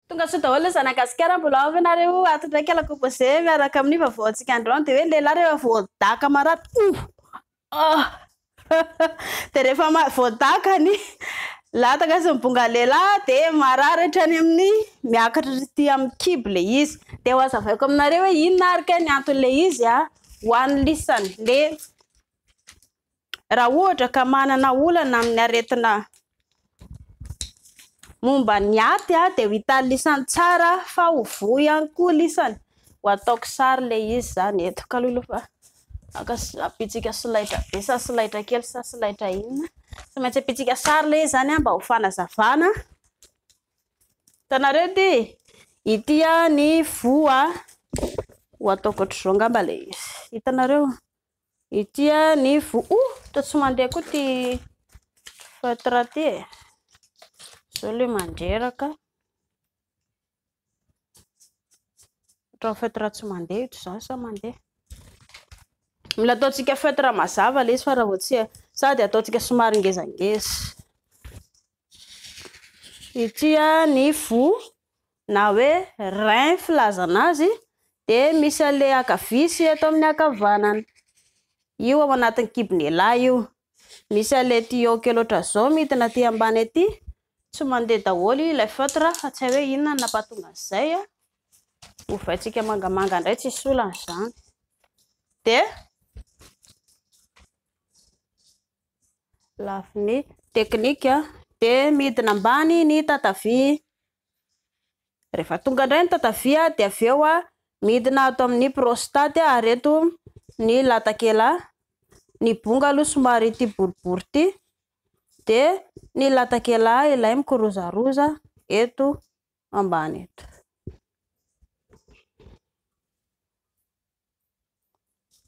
Tonga soa daholo ny zanagasikara mbola ao ve nareo ato ndray kala composé miaraka amin'ny vaovao antsika androany de hoe lehilahy rehefa voadaka marary oh ah de rehefa voadaka ny lataka sy ny bonga lehilahy de marary hatrany amin'ny miakatra rity amin'ny kibo le izy de ho azavaiko aminareo hoe inona ary kay ny anton'le izy a ho an'ny lisany le raha ohatra ka manana olana amin'ny aretina momba ny aty a dia ho hitan'ny lisany tsara fa ho voa ihany koa lisany ho ataoko sary le izy zany eto kaloloha fa aka apitsika solaitra be sa solaitra kely sa solaitra inona tsy maintsy apitsika sary le izy zany a mba ho fanazavana tanareo ty ity a ny voa ho ataoko ohatr'izao ngamba le izy hitanareo Ity ny vo oh toa tsy mandeha koa ity feutre ity e. Zao le mandreraka. Ohatran'ny feutre tsy mandeha ito zany sa mandeha. Mila ataontsika feutre mazava le izy fa raha vao tsy sady ataontsika somary ngezangeza. Ity ny vo na hoe rein filazana azy dia misy anle ankavia sy eto amin'ny ankavanana io ao anatin'ny kibon'elah io, misy anle tuyau kely otran'izao midina aty ambany aty, tsy mandeha daholo ilay feutre fa tsy hay hoe inona no nampahatonga an'izay, ovaintsika mangamanga indray tsisy olana izany dia. Lafiny teknika dia midina ambany ny tatavia. Rehefa tonga indray ny tatavia dia avy eo midina ato amin'ny prostate ary eto ny latakela. Ny bonga aloha somary ity boribory ity dia ny latakela ilay mikirozaroza eto. ambany eto.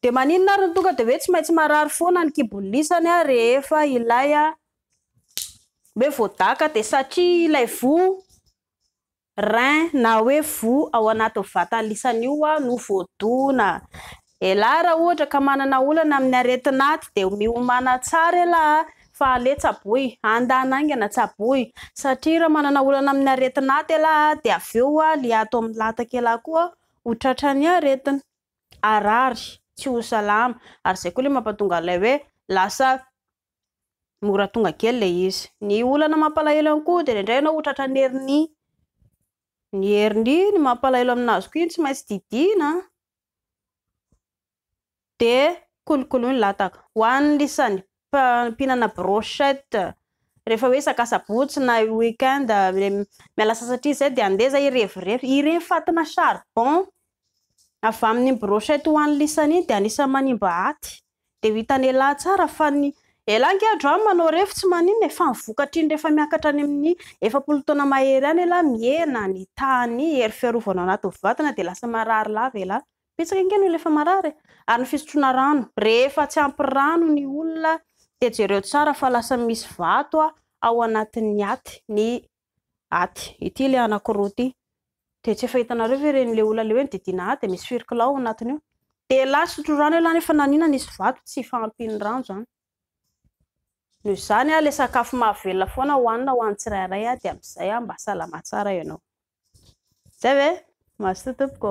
Dia maninona ary ny tonga dia hoe tsy maintsy marary foana ny kibon'ny lisany a rehefa ilay a hoe voadaka dia satria ilay voa rein na hoe voa ao anaty vatan'ny lisany io a no voadona. Elah raha ohatra ka manana olana amin'ny aretin'aty dia miomana tsara elah a! fa aleo tsaboy, andana aingana, tsaboy, satria raha manana olana amin'ny aretin'aty elah a dia avy eo a ly ato amin'ny lataka elah koa ho tratran'ny aretina, harary, tsy ho salama, ary izay koa ilay mampatonga an'ilay hoe lasa mora tonga kely ilay izy, ny olana mampalahelo ihany koa dia indraindray ianao ho tratran'ny hernie, ny hernie no mampalahelo aminazy koa iny tsy maintsy didiana a! dia kolokolo ny lataka. Ho an'ny lisany mpinana brochette rehefa hoe isaka asabotsy na weekend miala sasatria izay dia andeha izay hirevirevy. Ireny fatina charbon avy amin'ny brochette ho an'ny lisany iny dia anisan'ny manimba aty. Dia ho hitan'elah tsara fa ny. Elah ange adro any manao ref tsy maninona e, fa ny vokatriny rehefa miakatra any amin'ny efapolo taona mahery any elah mihena ny tahan'ny hery fiarovana ao anatin'ny vatana dia lasa marary lava elah. Betsaka ange ny olona efa marary e. Ary ny fisotroana rano, rehefa tsy ampy rano ny olona dia jereo tsara fa lasa misy vato ao anatin'ny aty ny aty ity le anakiroa ity de tsy efa hitanareo ve ireny le olona le hoe nididina ahy de misy firkla ao anatiny io de la sotro rano elah nefa nanina nisy vato tsy fahampian'ny rano zany noho izany aho le sakafo mahavelona foana hoanina ho an'ny tsirairay aho de amin'izay aho mba salama tsara ianao zay ve mazotoa tompoko